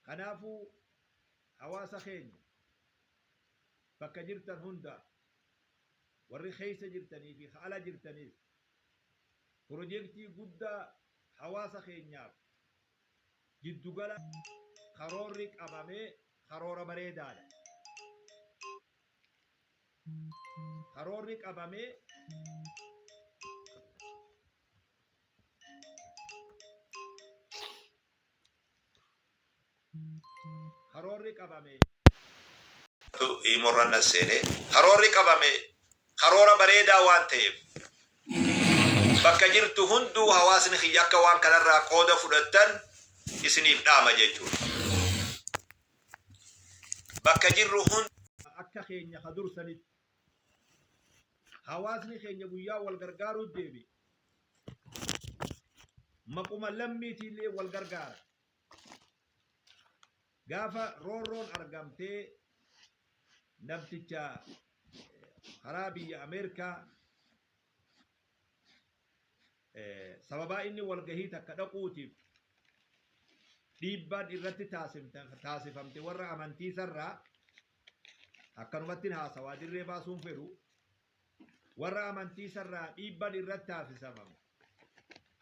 Kanaafuu hawaasa keenya bakka jirtan hundaa warri keessa jirtanii fi ka ala jirtanis pirojektii guddaa hawaasa keenyaaf jiddu gala karoorri qabame karoora bareedaa dha. Karoorri qabame Karoorri qabame. iimorra na seenee karoorri qabame karoora bareedaa waan ta'eef bakka jirtu hunduu hawaasni kiyya akka waan kanarraa qooda fudhattan isiniif dhaama jechuudha. Bakka jirru hunda akka keenya ka dursanitti Hawaasni keenya guyyaa wal gargaaruu deebi'e. Maquma lammiitiillee wal gargaara. Gaafa roorroon argamtee namticha karaa biyya Ameerikaa sababaa inni walgahii takka dhaquutiif dhiibbaan irratti taasifamte warra amantii sarraa akkanumatti haasawaa dirree baasuun fedhu warra amantii sarraa dhiibbaan irratti taasisamamu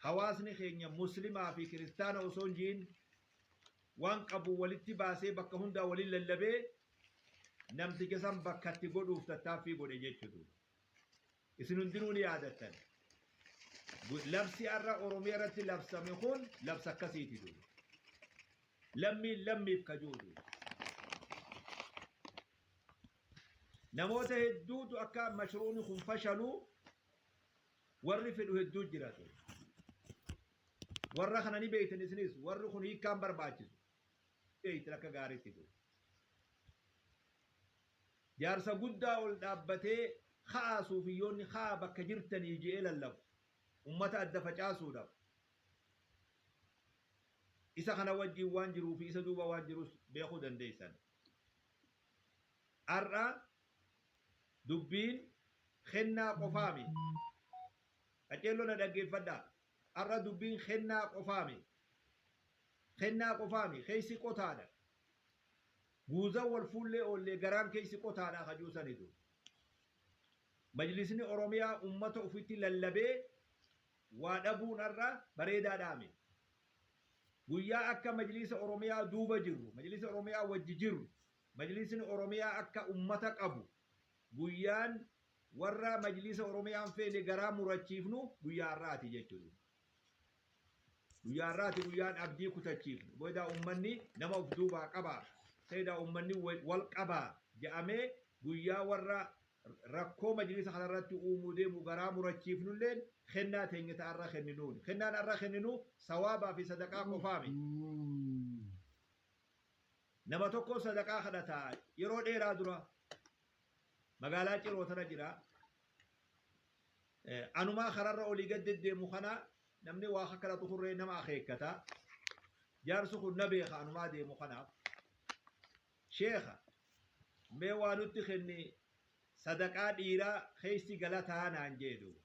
hawaasni keenya muslimaa fi kiristaana osoo hin jiin waan qabu walitti baasee bakka hundaa waliin lallabee namticha san bakkatti godhuuf tattaaffii godhe jechuudha. Isin hundinuu ni yaadattan. Labsi har'a Oromiyaa irratti labsame kun labsa akkasiiti duuba. Lammiin lammiif ka jiru duuba. Namoota hedduutu akka mashruuni kun fashalu warri fedhu hedduu jira ture. Warra kana ni beektan isinis warri kun hiikkaan barbaachisu. Beektan akka gaariitti duuba. Jaarsa guddaa ol dhaabbatee ka'aa suufiyyoonni ka'aa bakka jirtanii je'ee lallabu. Ummata adda facaasuudhaf. Isa kana wajjiin waan jiruu fi isa duuba waan jirus beekuu dandeessan. Har'a dubbiin kennaa qofaa mi. Qaceelloo na dhaggeeffadhaa. Har'a dubbiin kennaa qofaa mi. Kennaa qofaa mi. Keessi qotaadha. Guuzan wal fuullee oollee garaan keessi qotaadha ka ji'u sanitu. Majlisni Oromiyaa ummata ufitti lallabee waa dhabuun har'a bareedaadhaami. Guyyaa akka Majlisa Oromiyaa duuba jirru, Majlisa Oromiyaa wajji jirru, Majlisni Oromiyaa akka ummata qabu guyyaan warra Majlisa Oromiyaa hin feene garaa murachiifnu guyyaa har'aati jechuudha. Guyyaa har'aati guyyaan abdii kutachiifnu. Boydaa uummanni nama of duubaa qabaa, Sayidaa uummanni wal qabaa ja'amee guyyaa warra rakkoo majliisa kanarratti uumuu deemu garaa murachiifnulleen kennaa teenya ta har'a kenninuuni. Kennaan har'a kenninu sawaabaa fi sadaqaa qofaa miti. Nama tokko sadaqaa kadhata yeroo dheeraa dura magaalaa Ciroo tana jira. Anumaa kararra olii gad deddeemu kana namni waa akka kadhatu kun ree nama akeekkata. Jaarsi kun na beeka anumaa deemu kanaaf. Sheekha mee waa nutti kenni sadaqaa dhiiraa keessi galataa naan jee duuba.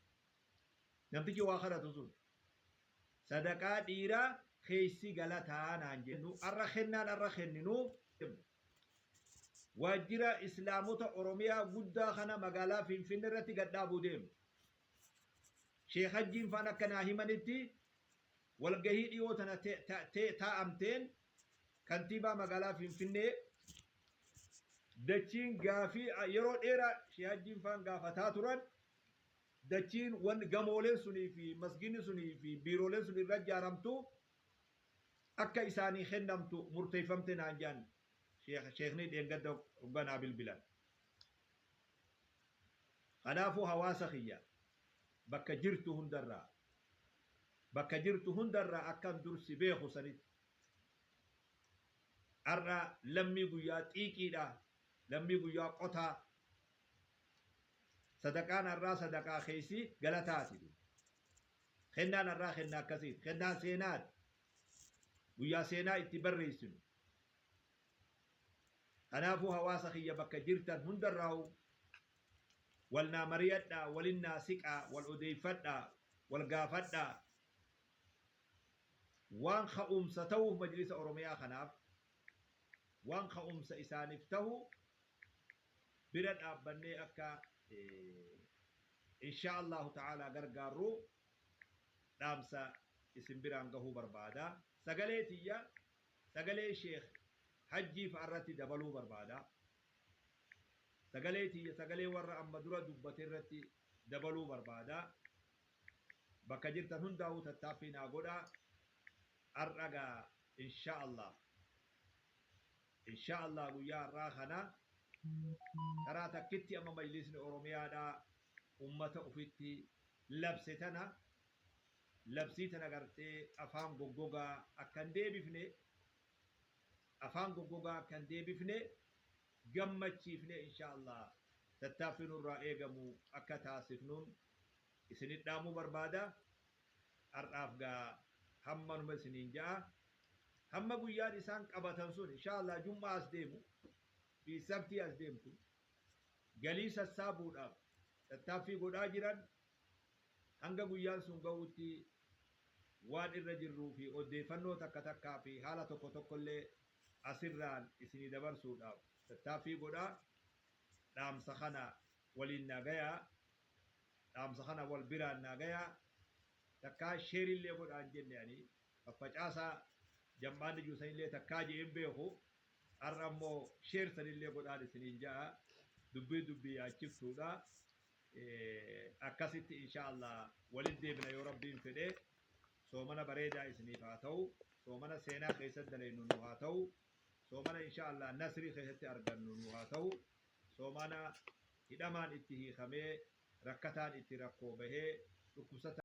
Namtichi waa kadhatu sun sadaqaa dhiiraa keessi galataa naan jee nu arra kennaan arra kenninu waajjira Islaamota Oromiyaa guddaa kana magaalaa Finfinnee irratti gad dhaabuu deemu. Sheek Hajjiin faan akka naa himanitti walgahii dhiyoo tana taa'amteen kantiibaa magaalaa Finfinnee dachiin gaafii yeroo dheeraa Sheek Hajjiin faan gaafataa turan dachiin wan gamooleen sunii fi masginni sunii fi biirooleen sun irra ijaaramtu akka isaanii kennamtu murteeffamte naan jedhan sheekni dheengadda hoggaa naa bilbilan. Kanaafuu hawaasa kiyya bakka jirtu hundarraa bakka jirtu hundarraa akkan dur si beeku sanitti har'a lammii guyyaa xiiqiidha, lammii guyyaa qotaa, sadaqaan har'aa sadaqaa keessi galataati. Kennaan har'aa kennaa akkasiiti. Kennaa seenaati. Guyyaa seenaa itti barreessinu. Kanaafuu hawaasa kiyya bakka jirtan hundarraa'u wal naa mariyadhaa, walin naa siqaa, wal odeeffadhaa, wal gaafadhaa. Waan ka'umsa ta'uuf Majlisa Oromiyaa kanaaf waan ka'umsa isaaniif ta'u bira dhaabbannee akka inshaa Allaahu ta'aalaa gargaarru dhaamsa isin biraan gahuu barbaada. Sagalee tiyya sagalee Sheekh Hajjii fa'arratti dabaluu barbaada. Sagalee tiyya sagalee warra amma dura dubbaterratti dabaluu barbaada. Bakka jirtan hundaa'uu tattaaffii naa godhaa. Har'a gaa inshaa Allaah Inshaa Allaah guyyaa har'aa kana taraa takkitti amma majliisni Oromiyaadhaa ummata ufitti labse tana labsii tana gartee afaan goggogaa akka hin deebifne afaan goggogaa akka hin deebifne gammachiifnee inshaa Allaah tattaaffii nurraa eegamu akka taasifnuun isinidhaamuu barbaada. har'aaf gaa hammanuma isiniin ja'a hamma guyyaan isaan qabatan sun inshaallah jum'aa as deemu fi sabtii as deemtu galii sassaabuudhaaf tattaaffii godhaa jiran hanga guyyaan sun ga'uutti waan irra jirruu fi oddeeffannoo takka takkaa fi haala tokko tokkollee asirraan isinii dabarsuudhaaf tattaaffii godhaa dhaamsa kana waliin naa gayaa Dhaamsa kana wal biraan naa gayaa takkaa share illee godhaa hin jenne ani faffacaasaa jam'aa nijuu san illee takkaa je'ee hin beeku har'a immoo share san illee godhaan isiniin ja'a dubbii dubbii yaachiftuudha akkasitti inshaa Allah walitti deebina yoo rabbiin fedhe soomana bareedaa isiniif haa ta'u soomana seenaa keessatti daleennu nu haa ta'u soomana inshaa Allah nasrii keessatti argannu nu haa ta'u Soomaanaa, Hidhamaan itti hiikamee, rakkataan itti rakkoo bahee, dhukkubsataan.